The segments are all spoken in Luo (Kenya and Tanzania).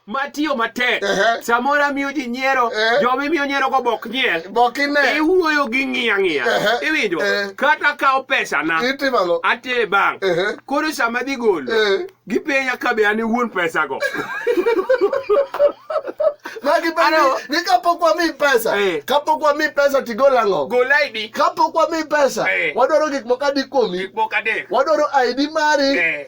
matiyo matek samoro amiyo ji nyiero joma imiyo nyiero go bok nyiel iwuoyo gi ng'iya ng'iya iwinjo kata kawo pesana atere bank koro sama dhi golo gipenya ka be an e wuon pesago ni kapok wami pesa kapok wami pesa tigol ang'o gol id kapok wami pesa wadwaro gik moko adi kuomi wadwaro id mari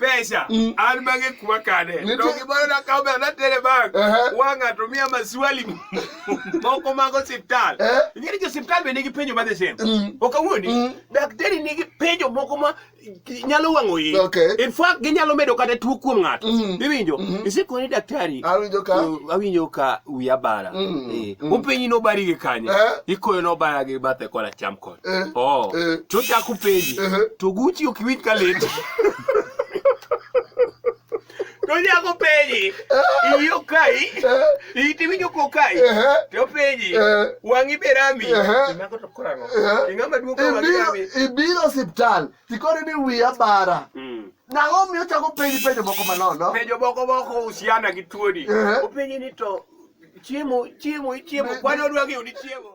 pesa mm. an mange kwa kane to gimoro nakawo bela natere bank uh -huh. wang'a to miya maswali moko mag osiptal uh eh? -huh. ing'eni jo osiptal be nigi penjo madhi sem mm. ok awuondi mm. daktari nigi penjo moko ma nyalo wang'o yi okay. in fact ginyalo medo kata tuo kuom ng'ato mm. iwinjo mm -hmm. isikoni daktari awinjo ka uh, awinjo ka wiya bara mm. eh. mm. openyi nobari gi kanye uh eh? -huh. ikoyo nobara gi bathe kola cham kod Eh, oh. eh. To chako penji. Eh. To Gucci ok winj ka lit. To chako penji. Eh. Iyo kai. Eh. Iti winjo ko kai. Eh. To penji. Eh. Wangi berami. Eh. Imako to kurano. Eh. Ingama duko wangi berami. Ibiro hospital. Tikore ni wiya bara. Mm. Nang'o miyo chako penji penjo moko manono? Penjo moko moko husiana gi tuoni. Eh. Openji ni to chiemo chiemo chiemo kwani odwa gi udi chiemo